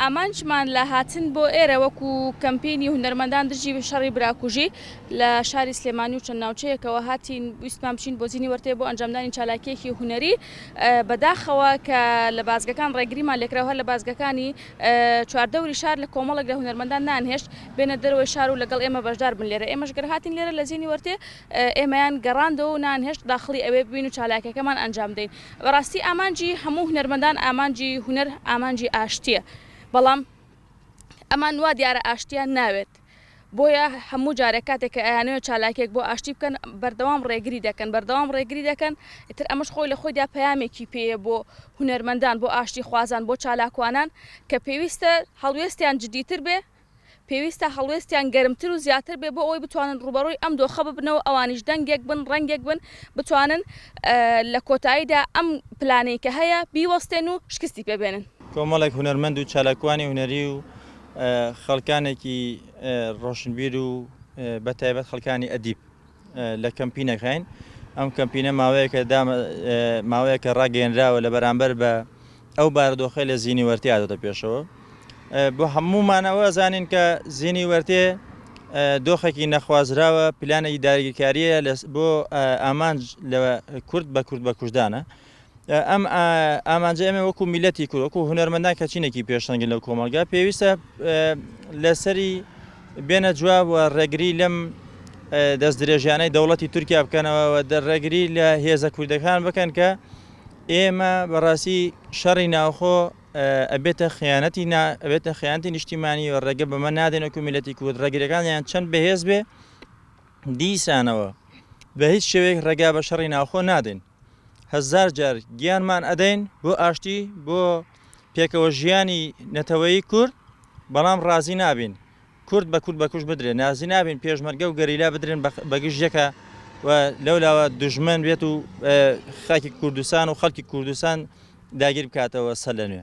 ئامانجمان لە هاتن بۆ ئێرە وەکو کەمپینی هونەرمەندان دژی شەڕی براکوژی لە شاری سلێمانی و چەند ناوچەیەکەوە هاتین ویستمان بچین بۆ زیینی وەرتێ بۆ ئەنجامدانی چالاکیەکی هوەری بەداخەوە کە لە بازگەکان ڕێگریمان لێکراوە لە بازگەکانی چواردەوری شار لە کۆمەڵێک لە هونەرمەندان نانهێشت بێنە دەرەوەی شار و لەگەڵ ئێمە بەشدار بن لێرە، ئێمەش گەر هاتین لێرە لە زینی وەرتێ ئێمەیان گەڕاندەوە و نانهێشت داخڵی ئەوێ ببین و چالاکیەکەمان ئەنجام بدەین. بەڕاستی ئامانجی هەموو هونەرمەندان ئامانجی هونەر ئامانجی ئاشتیە بەڵام ئەمان وا دیارە ئاشتیان ناوێت. بۆیە هەموو جارێک کاتێک کە ئەیانەوێت چالاکیەک بۆ ئاشتی بکەن بەردەوام ڕێگری دەکەن بەردەوام ڕێگری دەکەن ئیتر ئەمەش خۆی لە خۆیدا پەیامێکی پێیە بۆ هونەرمەندان بۆ ئاشتی خوازان بۆ چالاکوانان کە پێویستە هەڵوێستیان جدیتر بێ پێویستە هەڵوێستیان گەرمتر و زیاتر بێ بۆ ئەوەی بتوانن ڕوبەڕووی ئەم دۆخە ببنەوە ئەوانیش دەنگێک بن ڕەنگێک بن بتوانن لە کۆتاییدا ئەم پلانەی کە هەیە بیوەستێن و شکستی پێ بێنن. کۆمەڵێک هونەرمەند و چالاکوانی هونەری و خەڵکانێکی ڕۆشنبیر و بە تایبەت خەڵکانی ئەدیب لە کەمپینەکەین ئەم کەمپینە ماوەیەکە ماوەیەکە ڕاگەێنراوە لە بەرامبەر بە ئەو بارودۆخی لە زیینی وەرتی ئادەتە پێشەوە بۆ هەمومانەوە زانین کە زیینی وەرتێ دۆخێکی نەخوازراوە پلانێکی داگیرکاریە بۆ ئامانج لە کورد بە کورد بە کوردانە ئەم ئامانجە ئێمە وەکو میلەتی کورد وەکو هونەرمەندان کە چینێکی پێشەنگی لەو کۆمەلگا پێویستە لەسەری بێنە جواب و ڕێگری لەم دەست درێژیانەی دەوڵەتی تورکیا بکەنەوە دەڕێگری لە هێزە کوردەکان بکەن کە ئێمە بەڕاستی شەڕی ناوخۆ ئەبێتە خیانەتی ئەبێتە خیانتی نیشتیمانی و ڕێگە بەمە نادێن و کومیلەتی کورد ڕێگرەکان یان چەند بەهێز بێ دیسانەوە بە هیچ شوێک ڕێگا بە شەڕی ناوخۆ نادێن هەزار جار گیانمان ئەدەین بۆ ئاشتی بۆ پێکەوە ژیانی نەتەوەیی کورد بەڵام ڕازی نابین کورد بە کورد بەکوش بدرێن نازی نابین پێشمەرگە و گەریلا بدرێن بەگشت یەکە و لەولاوە دژمن بێت و خاکی کوردستان و خەڵکی کوردستان داگیر بکاتەوە سەر لە نوێ